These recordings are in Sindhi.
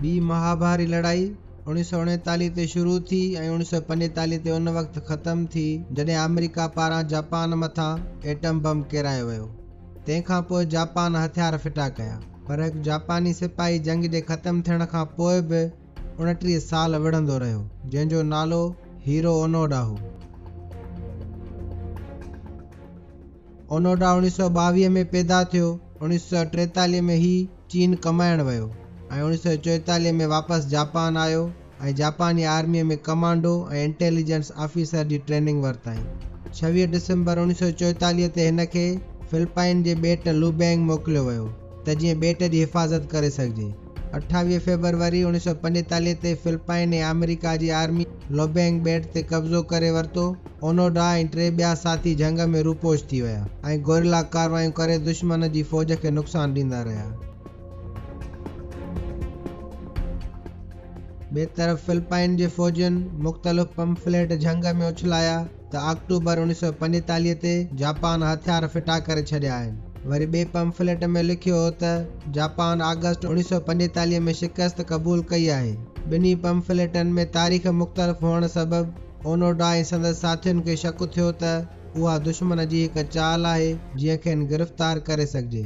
ٻي مهاڀاري لڙائي اڻيهه سؤ اڻيتاليهه تي شروع ٿي ۽ اڻيهه سؤ پنجيتاليهه تي ان وقت ختم ٿي جڏهن آمريڪا پاران جاپان مٿان ايٽم بم ڪيرايو ويو تنهن کان پوء جاپان هٿيار ڦٽا ڪيا، پر هڪ جاپاني سپاهي جنگ جي ختم ٿيڻ کان پوء به اڻٽيهه سال وڙهندو رهيو، جنهن جو نالو هيرو اونوڊا هو. اونوڊا اوڻيهه سؤ ٻاويهه ۾ پيدا ٿيو، اوڻيهه سؤ ٽيتاليهه ۾ هي چين ڪمائڻ ويو ۽ اوڻيهه سؤ چوئيتاليهه ۾ واپس جاپان آيو، ۽ جاپاني آرميء ۾ ڪمانڊو ۽ انٽيليجنس آفيسر جي ٽريننگ ورتائين. ڇويهه ڊسمبر اوڻيهه سؤ چوئيتاليهه تي هن کي فلپائن جي ٻيٽ لوبينگ موڪليو ويو ته جيئن ٻيٽ جي حفاظت ڪري سگهجي. اٺاويهه فيبروري اوڻيهه سؤ پنجيتاليهه تي فلپائن ۽ آمريڪا جي آرميء لوبينگ ٻيٽ تي قبضو ڪري ورتو. اونوڊا ۽ ٽي ٻيا ساٿي جهنگ ۾ روپوش ٿي ويا ۽ گوريلا ڪارروايون ڪري دشمن جي فوج کي نقصان ڏيندا رهيا. ٻئي طرف فلپائن جي فوجين مختلف پمفليٽ جهنگ ۾ اڇلايا ته آڪٽوبر اڻويهه سؤ پنجيتاليهه تي جاپان هٿيار ڦٽا ڪري ڇڏيا آهن. وري ٻئي پمفليٽ ۾ لکيو هو ته جاپان آگسٽ اڻويهه سؤ پنجيتاليهه ۾ شڪست قبول ڪئي آهي. ٻنهي پمفليٽن ۾ تاريخ مختلف هئڻ سبب اونوڊا ۽ سندس ساٿين کي شڪ ٿيو ته اها دشمن جي هڪ چال آهي جنهن کين گرفتار ڪري سگهجي.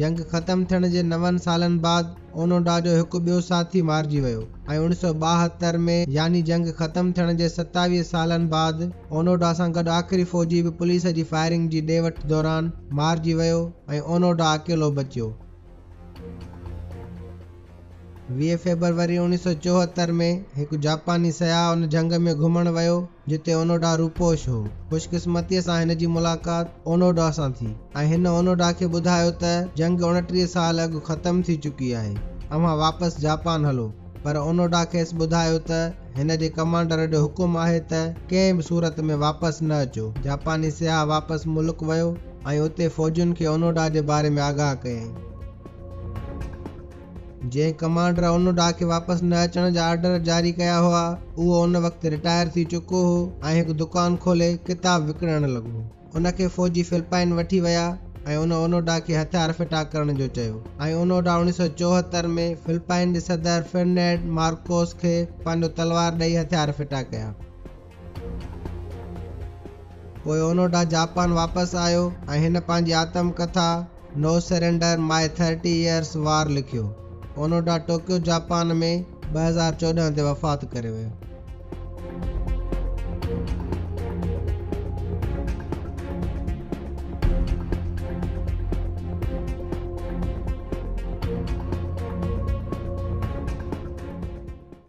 جنگ ختم ٿيڻ جي نون سالن بعد اونوڊا جو هڪ ٻيو ساٿي مارجي ويو ۽ اوڻيھ سؤ ٻاهتر ۾ يعني جنگ ختم ٿيڻ جي ستاويهه سالن بعد اونوڊا سان گڏ آخري فوجي به پوليس جي فائرنگ جي ڏي وٺ دوران مارجي ويو ۽ اونوڊا اڪيلو بچيو. ويهه فيبروري اڻيهه سؤ چوهتر ۾ هڪ جاپاني سياح ان جنگ ۾ گهمڻ ويو. جتي اونوڊا روپوش هو. خوشقسمتيء سان هن جي ملاقات اونوڊا سان ٿي ۽ هن اونوڊا کي ٻڌايو ته جنگ اڻٽيهه سال اڳ ختم ٿي چڪي آهي، اوهان واپس جاپان هلو. پر اونوڊا کيس ٻڌايو ته هن جي ڪمانڊر جو حڪم آهي ته ڪنهن به صورت ۾ واپس نه اچو. جاپاني سياح واپس ملڪ ويو ۽ اتي فوجين کي اونوڊا جي باري ۾ آگاهه ڪيائين. جنهن ڪمانڊر ان ڏاهه کي واپس نه اچڻ جا آرڊر جاري ڪيا هئا، اهو ان وقت رٽائر ٿي چڪو هو ۽ هڪ دڪان کولي ڪتاب وڪڻڻ لڳو. ان کي فوجي فلپائن وٺي ويا ۽ ان اونو ڊاهه کي هٿيار ڦٽا ڪرڻ جو چيو ۽ اونو ڊاهه اڻيهه سؤ چوهتر ۾ فلپائن جي صدر فرنڊنڊ مارڪوس کي پنهنجو تلوار ڏئي هٿيار ڦٽا ڪيا. پوء اونوڊا جاپان واپس آيو ۽ هن پنهنجي آتم ڪٿا No Surrender، My Thirty Years War لکيو. اونوڊا ٽوڪيو جاپان ۾ ٻه هزار چوڏهن تي وفات ڪري ويو.